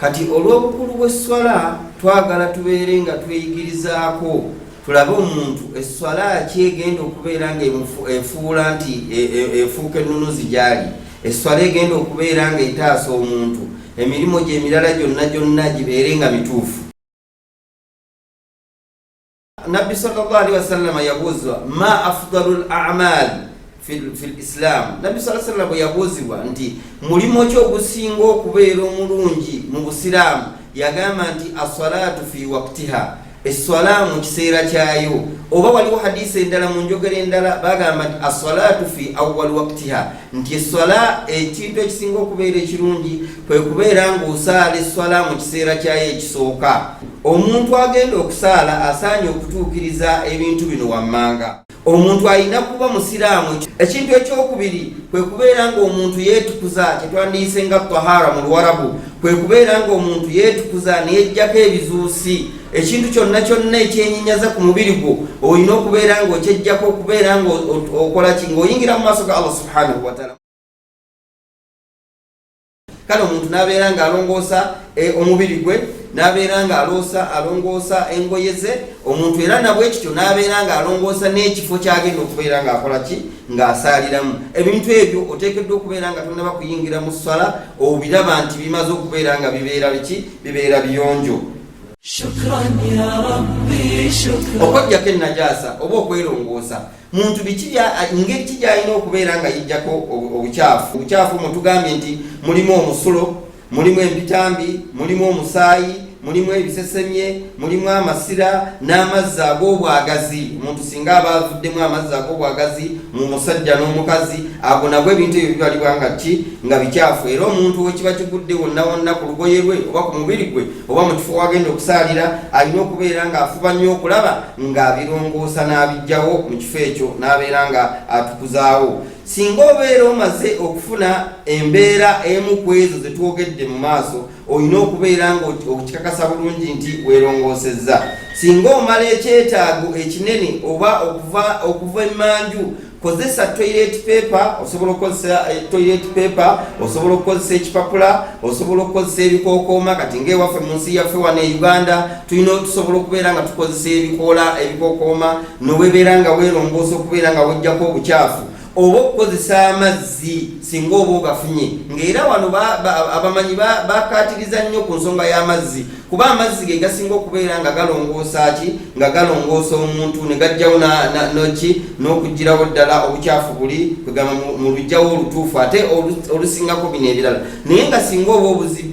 Kati olw'obukulu bw'esswala twagala tubeere nga tweyigirizaako tulabe omuntu esswala ki egenda okubeera nga efuula nti e, e, efuuka ennunuzi gyali esswala egenda okubeera nga etaasa omuntu emirimu gyemirala gyonna gyonna gibeere nga mituufu Nabbi sallallahu alaihi wasallam yabuuzibwa ma afdalul a'mal fil islam. Nabbi sallallahu alaihi wasallam yabuuzibwa nti mulimu ki ogusinga okubeera omulungi mu Busiraamu? Yagamba nti as-salatu fi waqtiha, esswala mu kiseera kyayo. Oba waliwo hadiisi endala mu njogera endala bagamba nti as-salatu fi awwal waqtiha nti esswala ekintu ekisinga okubeera ekirungi kwe kubeera ng'osaala esswala mu kiseera kyayo ekisooka omuntu agenda okusaala asaanye okutuukiriza ebintu bino wammanga omuntu alina kuba musiraamu ekintu ekyokubiri kwe kubeera ng'omuntu yeetukuza kye twandiyise nga tahara mu luwarabu kwe kubeera ng'omuntu yeetukuza neyejjako ebizuusi ekintu kyonna kyonna ekyenyinyaza ku mubiri gwo olina okubeera nga okyejjako okubeera nga okola ki ngaoyingira mu maaso ga allah subhanahu wataala kale omuntu nabeera nga alongoosa eh, omubiri gwe nabeera nga aloosa alongoosa engoye ze omuntu era nabwekityo nabeera nga alongoosa n'ekifo kyagenda okubeera nga akola ki ng'asaaliramu ebintu ebyo oteekeddwa okubeera nga tonaba kuyingira mu ssala obiraba nti bimaze okubeera nga bibeera biki bibeera biyonjo okwejjako ennajaasa oba okwerongoosa muntu ngeri ki gyalina okubeera nga yijjako obukyafu obukyafu mu tugambye nti mulimu omusulo mulimu empitambi mulimu omusaayi mulimu ebisesemye mulimu amasira n'amazzi ag'obwagazi omuntu singa aba avuddemu amazzi ag'obwagazi mu musajja n'omukazi ago nabwo ebintu ebyo bibalibwa nga ki nga bikyafu era omuntu wekiba kigudde wonna wonna ku lugoye lwe oba ku mubiri gwe oba mu kifo wagenda okusaalira alina okubeera ng'afuba nnyo okulaba ng'abirongoosa n'abijjawo mu kifo ekyo n'abeera nga atukuzaawo singa obeera omaze okufuna embeera emu ku ezo ze twogedde mu maaso olina okubeera nga okikakasa bulungi nti weerongoosezza singa omala ekyetaago ekinene oba okuva okuva emmanju kozesa toilet paper osobola okukozesa eh, toilet paper osobola okukozesa ekipapula osobola okukozesa ebikokooma kati ngaewaffe mu nsi yaffe wano e uganda tulina tusobola okubeera nga tukozesa ebikoola ebikokooma nowebeera nga werongoosa okubeera nga wejjako obukyafu oba okukozesa amazzi singa oba ogafunye ngaera wano abamanyi bakatiriza nnyo ku nsonga y'amazzi kuba amazzi ge gasinga okubeera nga galongoosa ki nga galongoosa omuntu ne gajjawo noki n'okuggyirawo ddala obukyafu buli kwegamba mu lujjawo olutuufu ate olusingako bino ebirala naye nga singa oba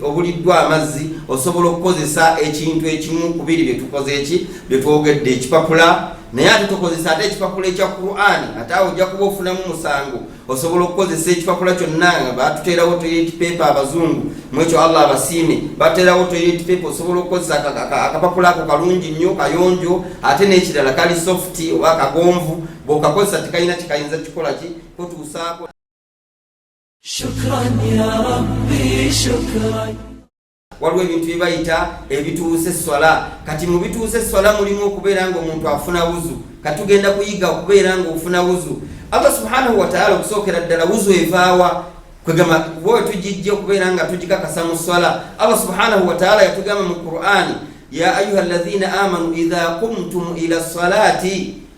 obuliddwa amazzi osobola okukozesa ekintu ekimu kubiri bye tukoze eki bye twogedde ekipapula naye ate tukozesa ate ekipapula ekya qurani ate awo ojja kuba ofunamu musango osobola okukozesa ekipapula kyonna nga batuteerawo toilet paper abazungu mwekyo allah abasiime batuteerawo toilet paper osobola okukozesa akapapula ako kalungi nnyo kayonjo ate n'ekirala kali soft oba kagonvu bwokakozesa tekalina kikayinza kikola ki kotuusaako shukran ya rabbi shukran waliwo ebintu bye bayita ebituusa esswala kati mu bituusa esswala mulimu okubeera nga omuntu afuna wuzu kati tugenda kuyiga okubeera nga ofuna wuzu allah subhanahu wataala okusookera ddala wuzu evaawa kwegamba kuba wetugijja okubeera nga tugikakasa mu swala allah subhanahu wataala yatugamba mu qur'ani ya ayuha alladhina amanu idha qumtum ila salati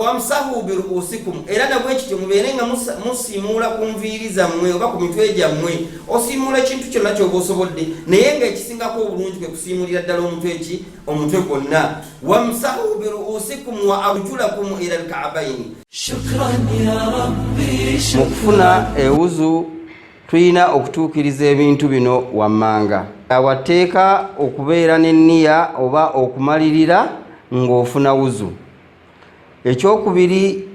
wamsahu biruusikum era nabwe kityo mubeere nga musiimuula ku nviiri zammwe oba ku mitwe gyammwe osiimuula ekintu kyonna kyoba osobodde naye nga ekisingako obulungi kwe kusiimulira ddala omutwe ki omutwe gwonna wamsahu biruusikum wa arjulakum ila lkaabaini mu kufuna ewuzu Tulina okutuukiriza ebintu bino wammanga. Watteeka okubeera n'enniya oba okumalirira ng'ofuna wuzu. Ekyokubiri,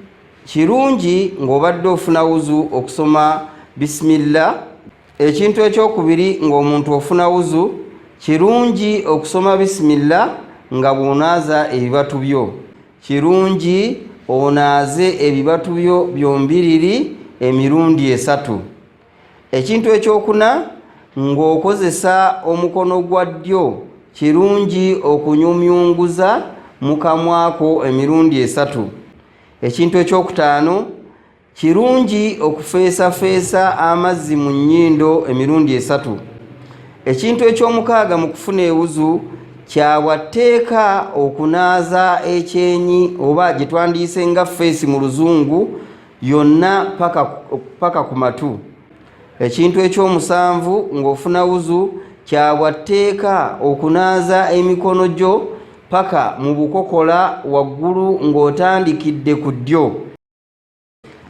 kirungi ng'obadde ofuna wuzu okusoma bisimilla. Ekintu ekyokubiri ng'omuntu ofuna wuzu, kirungi okusoma bisimilla nga bw'onaaza ebibatu byo. Kirungi onaaze ebibatu byo byombiriri emirundi esatu. Ekintu ekyokuna, ng'okozesa omukono gwa ddyo, kirungi okunyumyunguza mu kamwa ko emirundi esatu. Ekintu ekyokutaano. Kirungi okufeesafeesa amazzi mu nnyindo emirundi esatu. Ekintu eky'omukaaga mu kufuna ewuzu kya bwa tteeka okunaaza ekyenyi oba gye twandiyise nga feesi mu luzungu yonna paka ku matu. Ekintu eky'omusanvu ng'ofuna wuzu kya bwa tteeka okunaaza emikono gyo paka mu bukokola waggulu ng'otandikidde ku ddyo.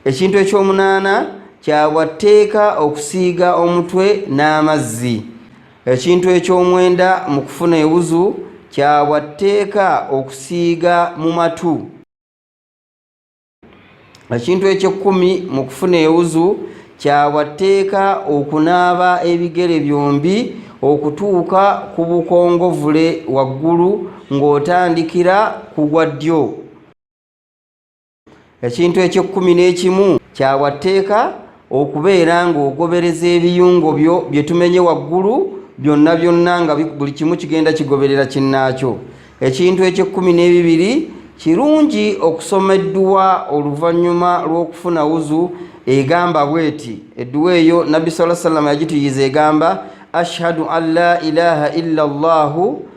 ekintu ekyomunaana kyabwa tteeka okusiiga omutwe n'amazzi ekintu ekyomwenda mu kufuna ewuzu kyabwa tteeka okusiiga mu matu ekintu ekyekkumi mu kufuna ewuzu kyabwa tteeka okunaaba ebigere byombi okutuuka ku bukongovule waggulu ng'otandikira ku gwa ddyo ekintu ekyekkumi n'ekimu kyawa tteeka okubeera ng'ogobereza ebiyungo byo bye tumenye waggulu byonna byonna nga buli kimu kigenda kigoberera kinnaakyo ekintu ekyekkumi n'ebibiri kirungi okusoma edduwa oluvannyuma lw'okufuna wuzu egamba bweti edduwa eyo nabbi saa salama yagituyiza egamba ashhadu an la ilaha illa llahu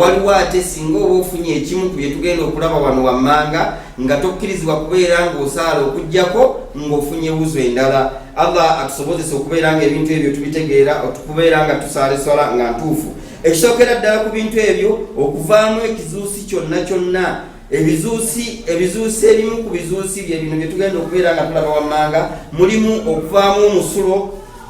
Waliwo ate singa oba ofunye ekimu ku bye tugenda okulaba wano wammanga nga tokkirizibwa kubeera ng'osaala okugyako ng'ofunye wuzu endala allah atusobozesa okubeera nga ebintu ebyo tubitegeera okubeera nga tusaala eswala nga ntuufu ekisookera ddala ku bintu ebyo okuvaamu ekizuusi kyonna kyonna ebizuusi ebizuusi ebimu ku bizuusi bye bino bye tugenda okubeera nga tulaba wammanga mulimu okuvaamu omusulo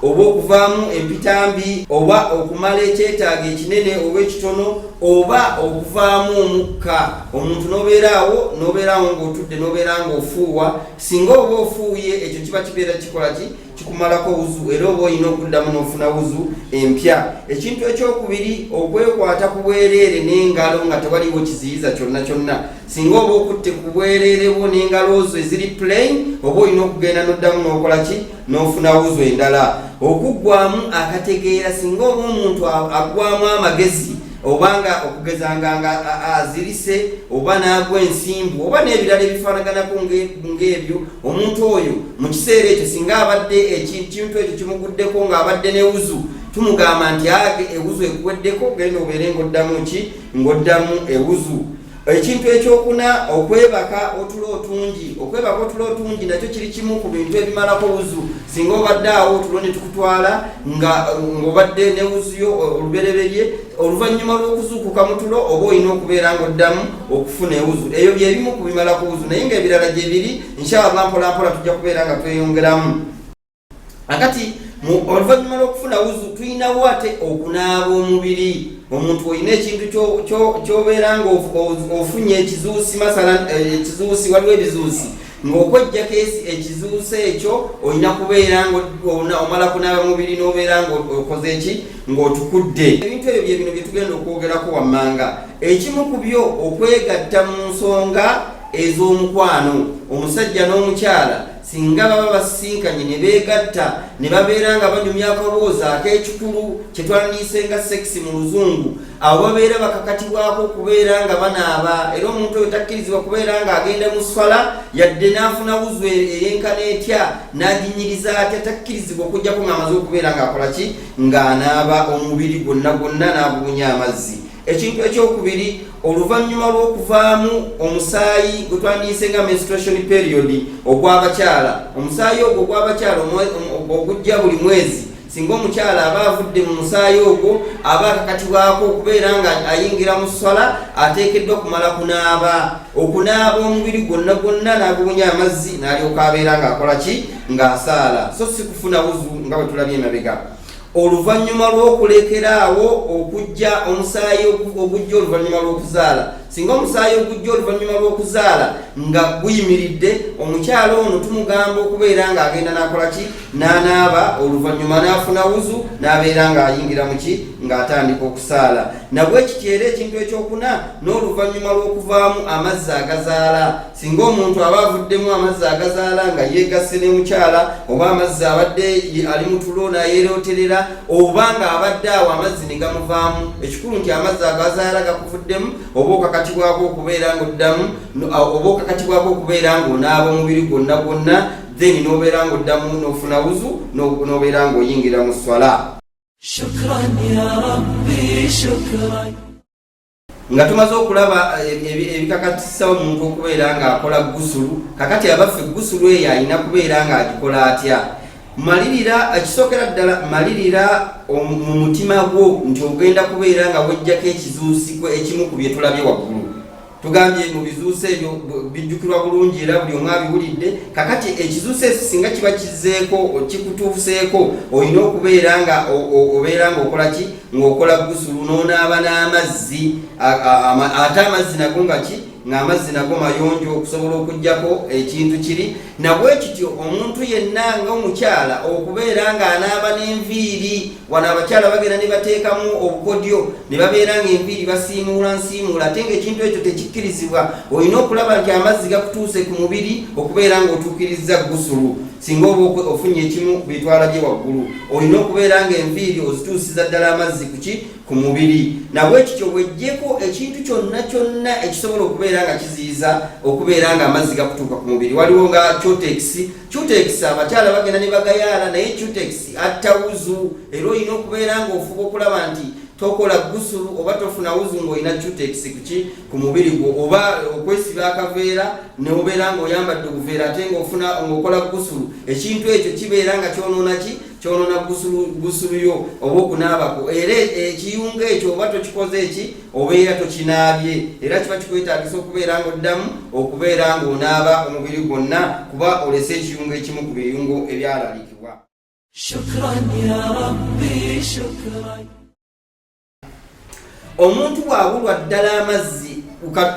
oba okuvaamu empitambi oba okumala ekyetaago ekinene oba ekitono oba okuvaamu omukka omuntu nobeeraawo nobeeraawo ngaotudde nobeera nga ofuuwa singa oba ofuuye ekyo kiba kibeera kikola ki kikumalako wuzu era oba olina okuddamu n'ofuna wuzu empya ekintu ekyokubiri okwekwata ku bwereere n'engalo nga tewaliwo kiziyiza kyonna kyonna singa oba okutte ku bwereere bwo n'engalo zo eziri plain oba olina okugenda n'oddamu n'okola ki n'ofuna wuzu endala okuggwamu akategeera singa oba omuntu aggwamu amagezi obanga okugezanga nga azirise oba n'agwa ensimbu oba n'ebirala ebifaanaganako ng'ebyo omuntu oyo mu kiseera ekyo singa abadde ekintu ekyo kimuguddeko ng'abadde ne wuzu tumugamba nti age ewuzu ekuweddeko genda obeere ng'oddamu ki ng'oddamu ewuzu ekintu ekyokuna okwebaka otulo otungi okwebaka otulo otungi nakyo kiri kimu ku bintu ebimalako wuzu singa obadde awo otulo ne tukutwala ng'obadde ne wuzuyo olubereberye oluvannyuma lw'okuzuukuka mu tulo oba olina okubeera ng'oddamu okufuna ewuzu ebyo byebimu ku bimala ku wuzu naye ng'ebirala gye biri nshallah mpolampola tujja kubeera nga tweyongeramu akati oluvannyuma lw'okufuna wuzu tulinawo ate okunaaba omubiri omuntu olina ekintu ky'obeera ng'ofunye ekizuusi masala eh, ekizuusi waliwo ebizuusi ng'okwejja keesi ekizuusa ekyo olina kubeera omala kunaaba mubiri n'obeera ng'okoze eki ng'otukudde ebintu ebyo byebino bye tugenda okwogerako wammanga ekimu ku byo okwegatta mu nsonga ez'omukwano omusajja n'omukyala singa baba basisinkanye ne beegatta ne babeera nga banyumya akaboozi ak'ekikulu kye twandiise nga sekisi mu luzungu abo babeera bakakatibwako okubeera nga banaaba era omuntu oyo takkirizibwa kubeera nga agenda mu swala yadde n'afuna wuzu e-, eyenkana etya n'aginyiriza atya takkirizibwa okujjako ng'amaze okubeera ng'akola ki ng'anaaba omubiri gwonna gwonna n'agubunya amazzi ekintu ekyokubiri oluvannyuma lw'okuvaamu omusaayi gwe twandiyise nga menstruation period ogw'abakyala omusaayi ogwo ogw'abakyala ogujja buli mwezi Singa omukyala aba avudde mu musaayi ogwo aba akakatibwako okubeera nga ayingira mu sswala ateekeddwa okumala kunaaba okunaaba omubiri gwonna gwonna n'agubunya amazzi n'alyoka abeera ng'akola ki ng'asaala so si kufuna wuzu nga bwe tulabye emabega oluvannyuma lw'okulekera awo okujja omusaayi ogujja oluvannyuma lw'okuzaala Singa omusaayi ogujja oluvannyuma lw'okuzaala nga guyimiridde, omukyala ono tumugamba okubeera ng'agenda n'akola ki? N'anaaba, oluvannyuma n'afuna wuzu, n'abeera ng'ayingira mu ki? Ng'atandika okusaala. Nabwekityo era ekintu ekyokuna, n'oluvannyuma lw'okuvaamu amazzi agazaala. singa omuntu aba avuddemu amazzi agazaala nga yeegasse ne mukyala oba amazzi abadde ali mu tulo nayeeroterera oba nga abadde awo amazzi ne gamuvaamu ekikulu nti amazzi agazaala gakuvuddemu oba okakatibwako okubeera nga oddamu oba okakatibwako okubeera nga onaaba omubiri gwonna gwonna then n'obeera nga oddamu n'ofuna wuzu n'obeera nga oyingira mu swala nga tumaze okulaba eh, ebikakatisa omuntu okubeera ng'akola gusulu kakati abaffe gusulu eyo alina kubeera ng'agikola atya malirira ekisookera eh, ddala malirira mu mutima gwo nti ogenda kubeera nga wejjako ekizuusiko ekimu ku bye tulabye waggulu tugambye mu bizuuso ebyo bijjukirwa bulungi era buli omu abiwulidde kakati ekizuuso ekyo singa kiba kizeeko kikutuuseeko olina okubeera nga obeera nga okola ki ng'okola gusulu n'onaaba n'amazzi ate amazzi nago nga ki ng'amazzi nago mayonjo okusobola okugyako ekintu kiri nabwe kityo omuntu yenna ngaomukyala okubeera ng'anaaba n'enviiri wano abakyala bagenda ne bateekamu obukodyo ne babeera ng'enviiri basiimuula nsiimuula ate ng'ekintu ekyo tekikkirizibwa olina okulaba nti amazzi gakutuuse ku mubiri okubeera ng'otuukirizza gusulu Singa oba ofunye ekimu bitwala gye waggulu, olina okubeera ng'enviiri ozituusiza ddala amazzi kuki ku mubiri. Nabwekityo weggyeko ekintu kyonna kyonna ekisobola okubeera nga kiziyiza okubeera ng'amazzi gakutuuka ku mubiri. Waliwo nga cutekisi. Cutekisi abakyala bagenda ne bagayaala, naye cutekisi atta wuzu, era olina okubeera ng'ofuba okulaba nti tokola gusulu oba tofuna wuzu ng'olina cutekisi kuki. ku mubiri gwo oba okwesiba akaveera neobeera nga oyambadde obuveera ate ngaofuna ngaokola gusulu ekintu ekyo kibeera nga kyonoona ki kyonoona gusulu yo oba okunaabako era ekiyunga ekyo oba tokikoze eki obeera tokinaabye era kiba kikwetagisa okubeera nga oddamu okubeera nga onaaba omubiri gwonna kuba olese ekiyungo ekimu ku biyungo ebyalalikibwa omuntu bwabulwa ddala amazzi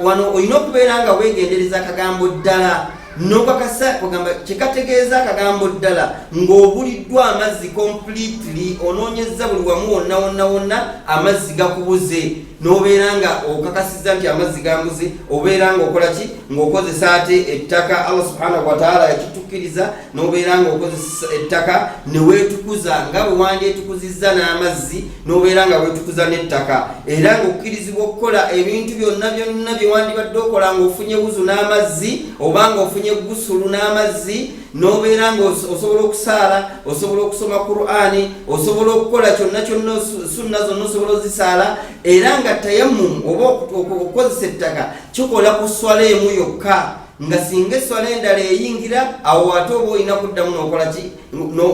wano olina okubeera nga wegendereza akagambo ddala nokakasa ogamba kyekategeeza akagambo ddala ng'obuliddwa amazzi completely onoonyezza buli wamu wonna wonna wonna amazzi gakubuze nobeera nga okakasiza nti amazzi gambuze obeera nga okola ki ng'okozesa ate ettaka allah subhanahu wataala yakitukiriza n'obeera nga okozesa ettaka ne weetukuza nga bwe wandyetukuzizza n'amazzi n'obeera nga weetukuza n'ettaka era ng'okkirizibwa okukola ebintu byonna byonna bye wandibadde okola ng'ofunye wuzu n'amazzi oba ng'ofunye gusulu n'amazzi n'obeera nga osobola okusaala osobola okusoma qurani osobola okukola kyonna kyonna sunna zonna osobola ozisaala era nga tayamumu oba okukozesa ettaka kikola ku swala emu yokka nga singa esswala endala eyingira awo ate oba olina kuddamu nokolaki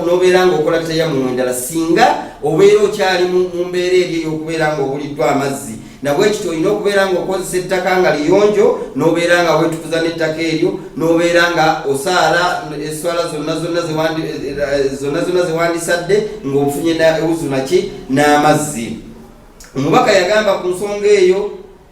nobeera nga okola tayamumu endala singa obeera okyali mu mbeera eri eyokubeera nga obuliddwa amazzi nabwekityo olina okubeera nga okozesa ettaka nga liyonjo nobeera nga wetukuza nettaka eryo nobeera nga osaala eswala zonna zonna zonna zonna zewandisadde ngaofunye ewuzunaki n'amazzi omubaka yagamba ku nsonga eyo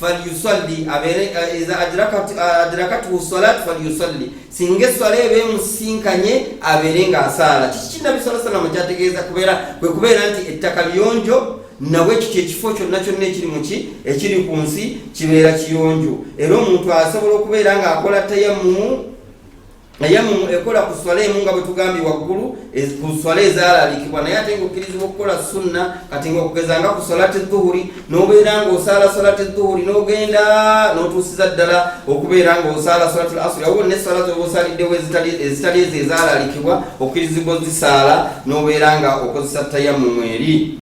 falyusalli abeere eh, iza adrakathu eh, salat falyusalli singa esswala eba emusisinkanye abeere nga asaala kiki kinabbi saa sallam kyategeeza kubeera kwe kubeera nti ettaka liyonjo nawe kiti ekifo kyonna kyonna ekiri muki ekiri ku nsi kibeera kiyonjo era omuntu asobola okubeera ng'akola tayammumu tayamumu ekola ku swala emu nga bwetugambye waggulu e, ku swala ezalalikibwa naye ate nga okkirizibwa okukola sunna kati nga okugeza nga ku salati dhuhuri nobeera nga osaala salati dhuhuri nogenda notuusiza ddala okubeera nga osaala salati lasuri awo ne sala zoba osaliddewo ezitali ezo ezalalikibwa okkirizibwa ozisaala nobeera nga okozesa tayamumu eri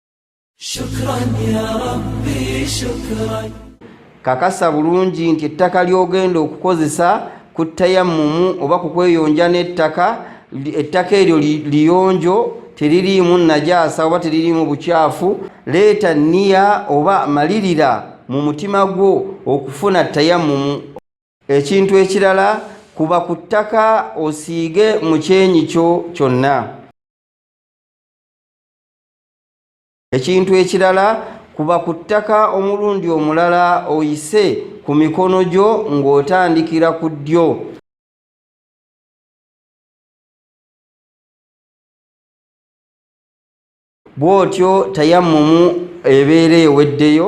kakasa bulungi nti ettaka ly'ogenda okukozesa ku tayammumu oba ku kweyonja n'ettaka ettaka eryo liyonjo teririimu najaasa oba teririimu bukyafu leeta niya oba malirira mu mutima gwo okufuna tayammumu ekintu ekirala kuba ku ttaka osiige mu kyenyi kyo kyonna ekintu ekirala kuba ku ttaka omulundi omulala oyise ku mikono gyo ng'otandikira ku ddyo bw'otyo tayammumu ebeera eweddeyo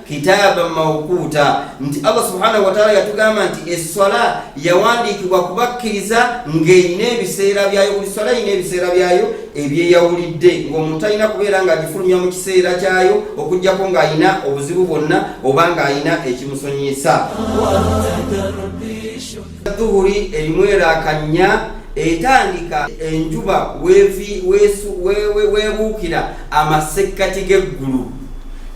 kitaaba mawkuuta nti allah subhanahu wataala yatugamba nti eswala yawandiikibwa kubakkiriza ng'erina ebiseera byayo buli swala erina ebiseera byayo ebyeyawulidde ng'omuntu talina kubeera ng'agifulumya mu kiseera kyayo okugyako ng'alina obuzibu bwonna oba ng'alina ekimusonyiyisa Dhuhuri erimu eraaka nnya etandika enjuba weebuukira amasekkati g'eggulu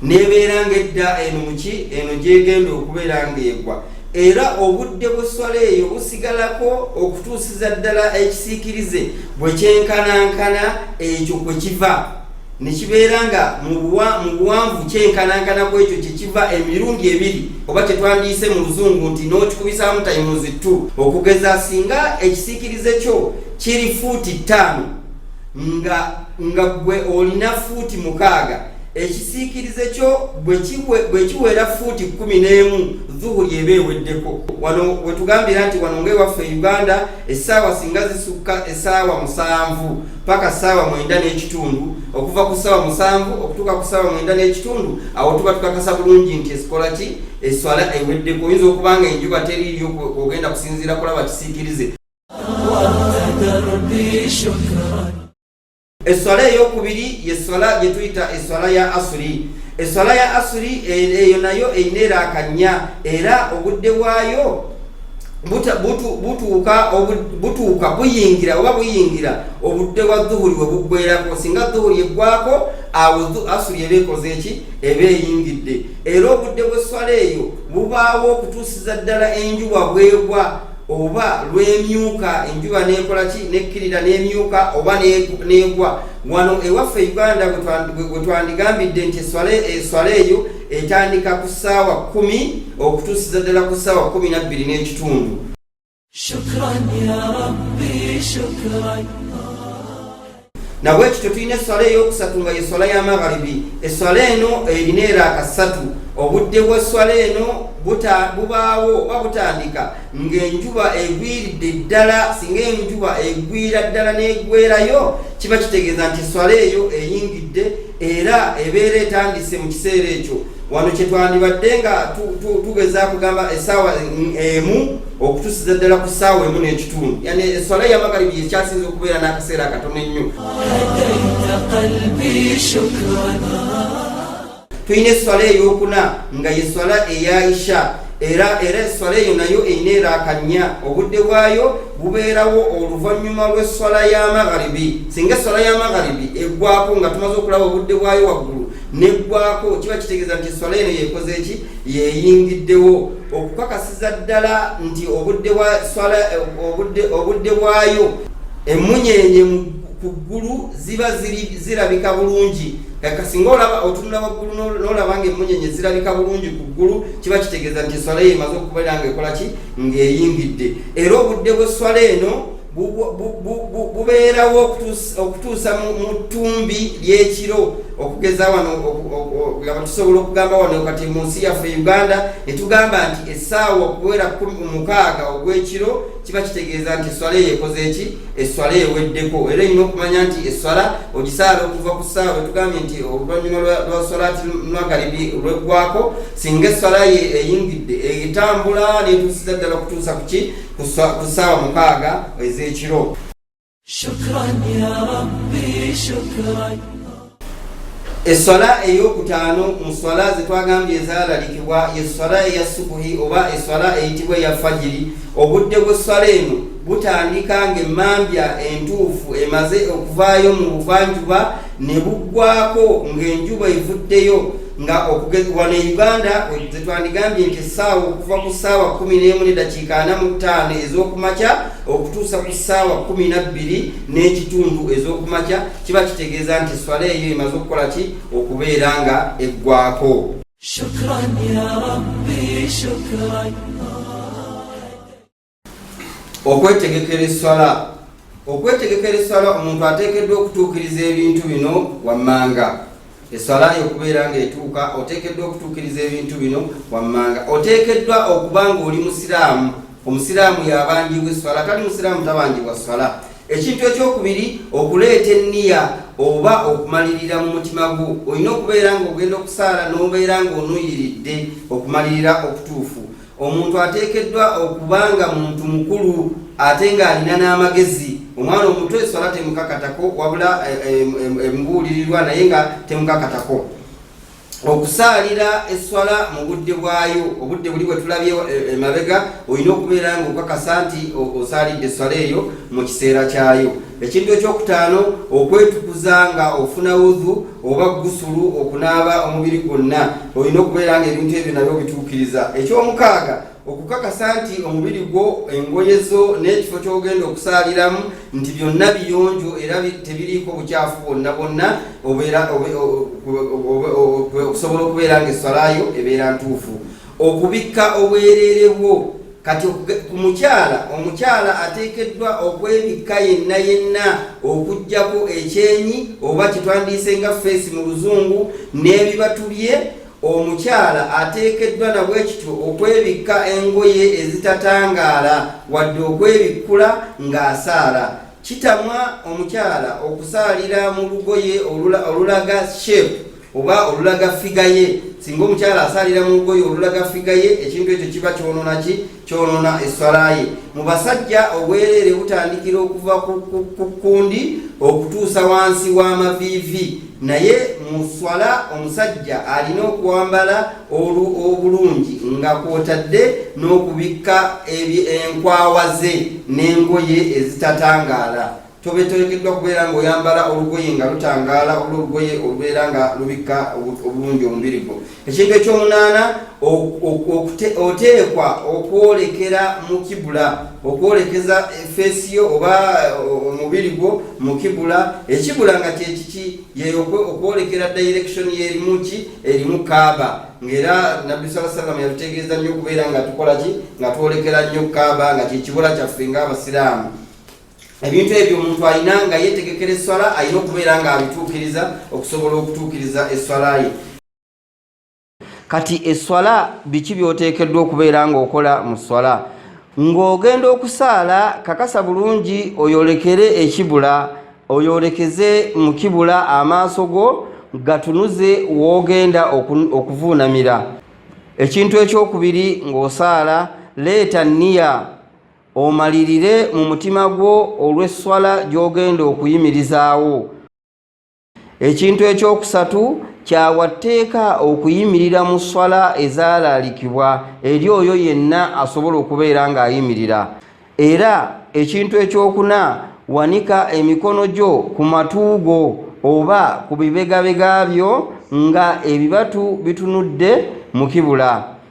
nebeera nga edda eno muki eno gyegenda okubeera ng'egwa era obudde bw'esswala eyo busigalako okutuusiza ddala ekisiikirize bwe kyenkanankana ekyo kwe kiva ne kibeera nga mu buwanvu kyenkanankana ku ekyo kye kiva emirundi ebiri oba kye twandiyise mu luzungu nti n'okikubisaamu tayimuzi tu okugeza singa ekisiikirize kyo kiri fuuti ttaano nga nga gwe olina fuuti mukaaga ekisiikirize kyo bwe kiwera fuuti kkumi n'emu zuhuri eba eweddeko wano wetugambira nti wano ngaewaffe e uganda essaawa singa zisukka essaawa musanvu paka saawa mwenda n'ekitundu okuva ku saawa musanvu okutuuka ku saawa mwenda n'ekitundu awo tuba tukakasa bulungi nti esikola ki eswala eweddeko oyinza okuba nga enjuba teriiyo ogenda kusinziira kulaba kisiikirize eswala eyokubiri yeswala gyetuyita eswala ya asuri eswala ya asuri e, eyo nayo eyina eraaka nnya era obudde bwayo butuuka buyingira oba buyingira obudde bwa dhuhuri we buggwerako singa dhuhuri eggwako awo asuli eba ekoze eki eba eyingidde era obudde bw'esswala eyo bubaawo okutuusiza ddala enjuba bwegwa oba lwemyuka enjuba nekola ki nekkirira n'emyuka oba negwa wano ewaffe uganda bwe twandigambidde nti eswala eyo etandika ku ssaawa kumi okutuusiza ddala ku ssaawa kumi nabbiri n'ekitundu nabwe kityo tulina esswala ey'okusatu nga ye swala ya magharibi esswala eno erina era akassatu obudde bw'esswala eno bubaawo oba butandika ng'enjuba egwiridde ddala singa enjuba egwira ddala n'egwerayo kiba kitegeeza nti esswala eyo eyingidde era ebeera etandise mu kiseera ekyo wano kyetwandibadde nga tugeza kugamba esaawa emu okutusiza ddala ku saawa emu n'ekitundu yani eswala ya magaribi yekyasinza okubeera n'akaseera akatono ennyo tulina eswala eyokuna nga yeswala eya isha era era eswala eyo nayo erina erakannya obudde bwayo bubeerawo oluvannyuma lw'esswala ya magharibi singa esswala ya magharibi eggwako nga tumaze okulaba obudde bwayo waggulu neggwako kiba kitegeeza nti esswala eno yekoze ki yeyingiddewo okukakasiza ddala nti obudde bwa swala obudde bwayo emunyenye ku ggulu ziba zirabika bulungi kaka singa olaba otunula waggulu n'olaba nga emunyenye zirabika bulungi ku ggulu kiba kitegeeza nti eswala ye emaze okubeera nga ekola ki ng'eyingidde era obudde bw'esswala eno bubeerawo okutuusa mu ttumbi ly'ekiro okugeza wano nga tusobola okugamba wano kati mu nsi yaffe uganda ne tugamba nti essaawa okuwera mukaaga ogw'ekiro kiba kitegeeza nti esswala eyo ekoze eki esswala eweddeko era olina okumanya nti esswala ogisaala okuva ku ssaawa etugambye nti oluvannyuma lwa swalaati lwagalibi olweggwako singa esswala ye eyingidde etambula netuusiza ddala okutuusa kuki ku ssaawa mukaaga ez'ekiro esswala ey'okutaano mu sswala zetwagambye ezalalikibwa yesswala eya subuhi oba esswala eyitibwa eya fajiri obudde bw'esswala eno butandika ng'emmambya entuufu emaze okuvaayo mu buvanjuba ne buggwako ng'enjuba evuddeyo nga wano e uganda zetwandigambye nti essaawa okuva ku ssaawa kumi n'emu ne dakiika ana mu ttaano ez'okumakya okutuusa ku ssaawa kumi na bbiri n'ekitundu ez'okumakya kiba kitegeeza nti swala eyo emaze okukola ki okubeera nga eggwako okwetegekera esswala okwetegekera esswala omuntu ateekeddwa okutuukiriza ebintu bino wammanga esswala yo okubeera ng'etuuka oteekeddwa okutuukiriza ebintu bino wammanga oteekeddwa okuba ng'oli musiraamu omusiraamu yabanjibwa esswala tali musiraamu tabanjibwa sswala ekintu ekyokubiri okuleeta enniya oba okumalirira mu mutima gwo olina okubeera ng'ogenda okusaala n'obeera ng'onuyiridde okumalirira okutuufu omuntu ateekeddwa okuba nga muntu mukulu ate ng'alina n'amagezi omwana omuto eswala temukakatako wabula emubuulirirwa eh, eh, eh, naye nga temukakatako okusaalira esswala mu budde bwayo obudde buli bwetulabye e, emabega olina okubeera nga okakasa nti osaalidde esswala eyo mu kiseera kyayo ekintu ekyokutaano okwetukuza nga ofuna wudhu oba gusulu okunaaba omubiri gwonna olina okubeera nga ebintu ebyo nabyo bituukiriza ekyomukaaga okukakasa nti omubiri gwo engoye zo n'ekifo ky'ogenda okusaaliramu nti byonna biyonjo era tebiriiko bukyafu bwonna bwonna okusobola okubeera nga eswalayo ebeera ntuufu okubikka obwereere bwo kati ku mukyala omukyala ateekeddwa okwebikka yenna yenna okugyako ekyenyi oba kitwandiise nga feesi mu luzungu n'ebibatubye omukyala ateekeddwa nabwekityo okwebikka engoye ezitatangaala wadde okwebikkula ng'asaala kitamwa omukyala okusaalira mu lugoye olulaga shepu oba olulaga figa ye singa omukyala asalira mu lugoye olulaga figa ye ekintu ekyo kiba kyonona ki kyonona esswala ye mu basajja obwereere butandikira okuva ku kundi okutuusa wansi w'amaviivi naye mu swala omusajja alina okwambala obulungi nga kwotadde n'okubikka enkwawa ze n'engoye ezitatangaala tobetegekeddwa kubeera ng'oyambala olugoye nga lutangaala oba olugoye olubeera nga lubikka obulungi omubiri gwo ekintu ekyomunaana oteekwa okwolekera mu kibula okwolekeza efeesi yo oba eh, omubiri gwo mu kibula ekibula nga kyekiki yeyo okwolekera direction yerimuki erimu kaaba ngaera nabbi saa salama yatutegeeza nnyo okubeera nga tukola ki nga twolekera nnyo kaaba nga kyekibula kyaffe ngaabasiraamu ebintu ebyo omuntu alina nga yetegekera esswala alina okubeera nga abituukiriza okusobola okutuukiriza esswala ye kati esswala biki byoteekeddwa okubeera ng'okola mu sswala ng'ogenda okusaala kakasa bulungi oyolekere ekibula oyolekeze mu kibula amaaso go gatunuze w'ogenda okuvuunamira ekintu ekyokubiri ng'osaala leeta niya omalirire mu mutima gwo olw'esswala gy'ogenda okuyimirizaawo ekintu ekyokusatu kyawa tteeka okuyimirira mu sswala ezaalaalikibwa eri oyo yenna asobola okubeera ng'ayimirira era ekintu ekyokuna wanika emikono gyo ku matu go oba ku bibegabega byo nga ebibatu bitunudde mu kibula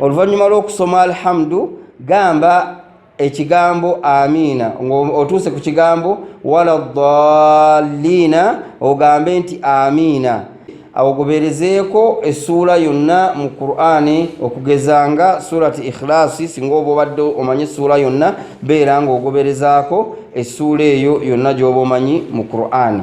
oluvannyuma lw'okusoma alhamdu gamba ekigambo amiina ngaotuuse ku kigambo wala daliina ogambe nti amiina awogoberezeeko essuula yonna mu qur'ani okugeza nga surati ikhilaasi singa oba obadde omanyi essuula yonna beera ngaogoberezaako essuula eyo yonna gy'oba omanyi mu qur'ani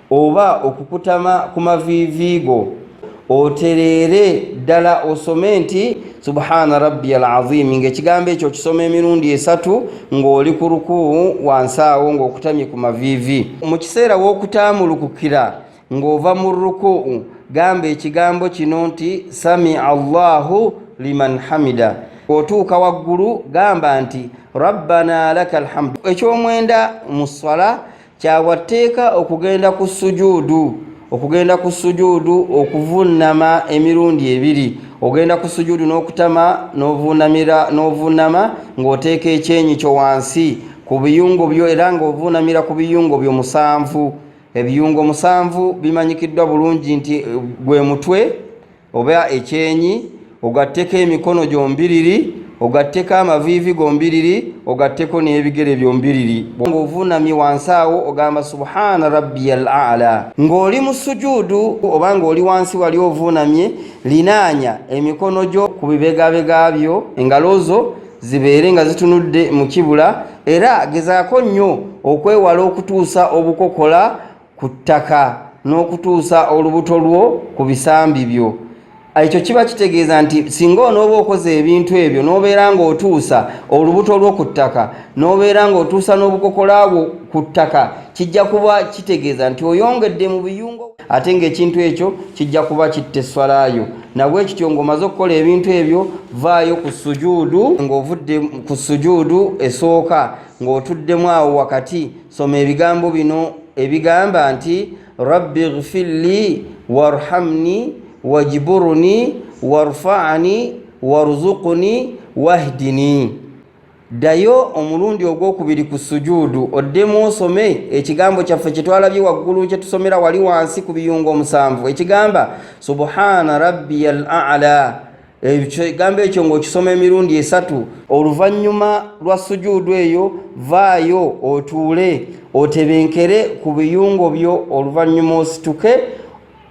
oba okukutama ku maviivi go otereere ddala osome nti subhaana rabbi al aziimi ngaekigambo ekyo okisoma emirundi esatu ng'oli ku rukuu wansi awo ng'okutamye ku maviivi mu kiseera w'okutaamulukukira ng'ova mu rukuu gamba ekigambo kino nti sami allahu liman hamida otuuka waggulu gamba nti rabbana laka alhamdu ekyomwenda mu swala kyabwa tteeka okugenda ku sujuudu okugenda ku sujuudu okuvunnama emirundi ebiri ogenda ku sujuudu n'okutama n'ovuunamira n'ovuunama ng'oteeka ekyenyi kyo wansi ku biyungo byo era ng'ovuunamira ku biyungo byo musanvu ebiyungo musanvu bimanyikiddwa bulungi nti eh, gwe mutwe oba ekyenyi ogatteko emikono gyombiriri ogatteko amaviivi gombiriri ogatteko n'ebigere byombiriri ngaovunamye wansi awo ogamba subhana rabbiya al ala ng'oli mu sujuudu oba ng'oli wansi wali ovunamye linaanya emikono gyo ku bibegabega byo engalo zo zibeere nga zitunudde mu kibula era gezaako nnyo okwewala okutuusa obukokola ku ttaka n'okutuusa olubuto lwo ku bisambi byo ekyo kiba kitegeeza nti singa onooba okoze ebintu ebyo n'obeera ng'otuusa olubuto lwo ku ttaka n'obeera ng'otuusa n'obukokola bwo ku ttaka kijja kuba kitegeeza nti oyongedde mu biyungo ate ng'ekintu ekyo kijja kuba kitta esswalayo nabwe kityo ng'omaze okukola ebintu ebyo vaayo ku sujuudu ng'ovudde ku sujuudu esooka ng'otuddemu awo wakati soma ebigambo bino ebigamba nti rabbi ghfirli warhamni wajburni warfani warzuqni wahdini ddayo omulundi ogwokubiri ku sujuudu oddemu osome ekigambo kyaffe kyetwalabye waggulu kyetusomera wali wansi ku biyungo omusanvu ekigamba subhana rabbiya al ala ekigambo ekyo ng'okisoma emirundi esatu oluvannyuma lwa sujuudu eyo vaayo otuule otebenkere ku biyungo byo oluvannyuma osituke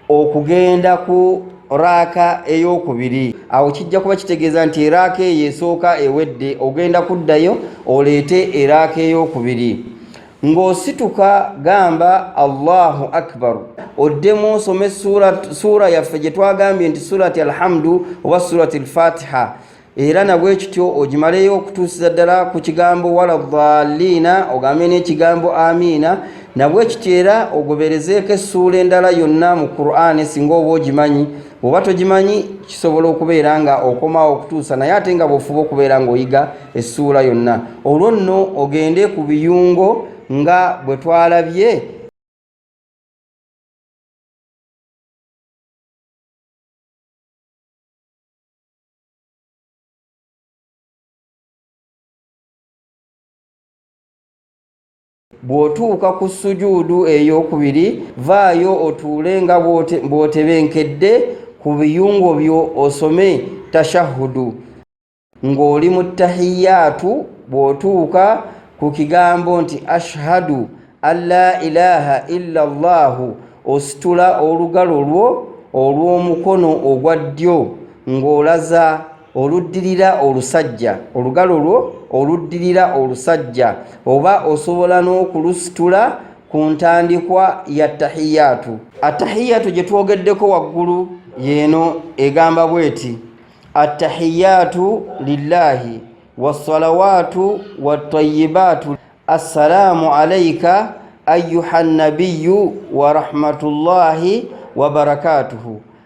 okugenda ku raaka ey'okubiri awo kijja kuba kitegeeza nti eraaka eyo esooka ewedde ogenda kuddayo oleete eraaka ey'okubiri ng'osituka gamba allahu akbaru oddemu osome suura yaffe gye twagambye nti surati alhamdu oba surati alfatiha era nabwe kityo ogimaleyo okutuusiza ddala ku kigambo wala dhaliina ogambye n'ekigambo amiina nabwe kityo era ogoberezeeko essuula endala yonna mu qur'ani singa oba ogimanyi oba togimanyi kisobola okubeera nga okomawo okutuusa naye ate nga bwofuba okubeera ngaoyiga essuula yonna olwo nno ogende ku biyungo nga bwe twalabye bw'otuuka ku sujuudu ey'okubiri vaayo otuule nga bw'otebenkedde ku biyungo byo osome tashahudu ng'oli mu tahiyaatu bw'otuuka ku kigambo nti ashhadu an la ilaha illa llahu ositula olugalo lwo olw'omukono ogwa ddyo ng'olaza oluddirira olusajja olugalo lwo oluddirira olusajja oba osobola n'okulusitula ku ntandikwa ya tahiyaatu attahiyaatu gye twogeddeko waggulu yeeno egamba bweti attahiyaatu lillaahi wassalawaatu wattayibaatu assalaamu alaika ayuha nnabiyu warahmatullaahi wabarakaatuhu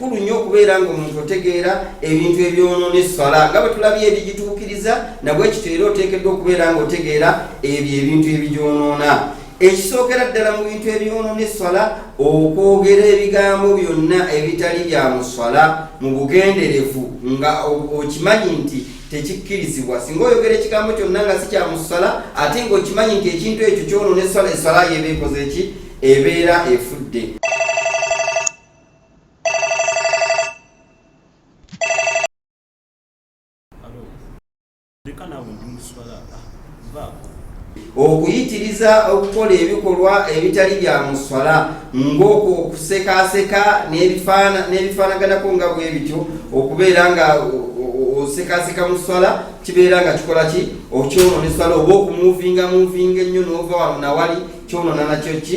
kulu nnyo okubeera nga omuntu otegeera ebintu ebyonoona esswala nga bwe tulabye ebigituukiriza nabwekityo era oteekeddwa okubeera nga otegeera ebyo ebintu ebigyonoona ekisookera ddala mu bintu ebyonoona esswala okwogera ebigambo byonna ebitali bya mu sswala mu bugenderevu nga okimanyi nti tekikkirizibwa singa oyogera ekigambo kyonna nga si kya mu sswala ate ngaokimanyi nti ekintu ekyo kyonoona esswala esswala yeeba ekoze ki ebeera efudde okuyitiriza okukola ebikolwa ebitali bya muswala ng'okwo okusekaaseka n'ebifaanaganako nga bwe bityo okubeera nga osekaaseka mu swala kibeera nga kikola ki okyonoona eswala oba okumuvinga muvinga ennyo n'ova wano nawali kyonoona nakyo ki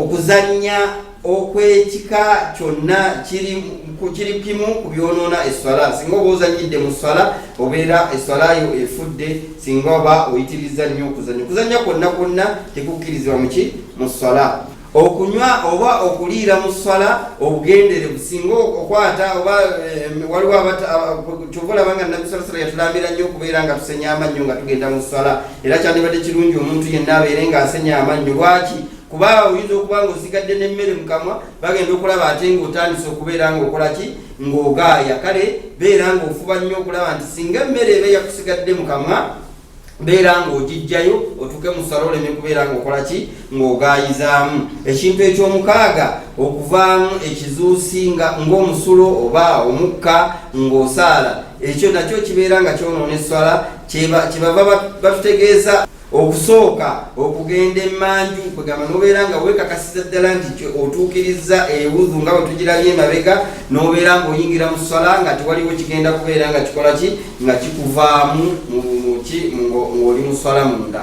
okuzannya okwekika kyonna kiri kiri kimu ku byonoona esswala singa oba ozanyidde mu sswala obeera esswala yo efudde singa oba oyitiriza nnyo okuzanya okuzanya kwonna kwonna tekukkirizibwa muki mu sswala okunywa oba okuliira mu sswala obugenderevu singa okwata oba eh, waliwo kyova olabanga nabisala sala yatulambira nnyo okubeera nga tusenya amannyo nga tugenda mu sswala era kyandibadde kirungi omuntu yenna abeere ng'asenya amannyo lwaki kuba oyinza okuba nga osigadde n'emmere mu kamwa bagenda okulaba ate ng'otandise okubeera ng'okola ki ng'ogaaya kale beera ng'ofuba nnyo okulaba nti singa emmere eba yakusigadde mu kamwa beera ng'ogijjayo otuuke mu sala oleme kubeera ng'okola ki ng'ogaayizaamu ekintu eky'omukaaga okuvaamu ekizuusi nga ng'omusulo oba omukka ng'osaala ekyo nakyo kibeera nga kyonoona esswala kyebava batutegeeza okusooka okugenda emanju kwegamba nobeera nga wekakasiza ddala nti otuukiriza ewudhu nga wetugirabye emabega nobeera nga oyingira mu sala nga tewaliwo kigenda kubeera nga kikola ki nga kikuvaamu muki ngaoli mu sala munda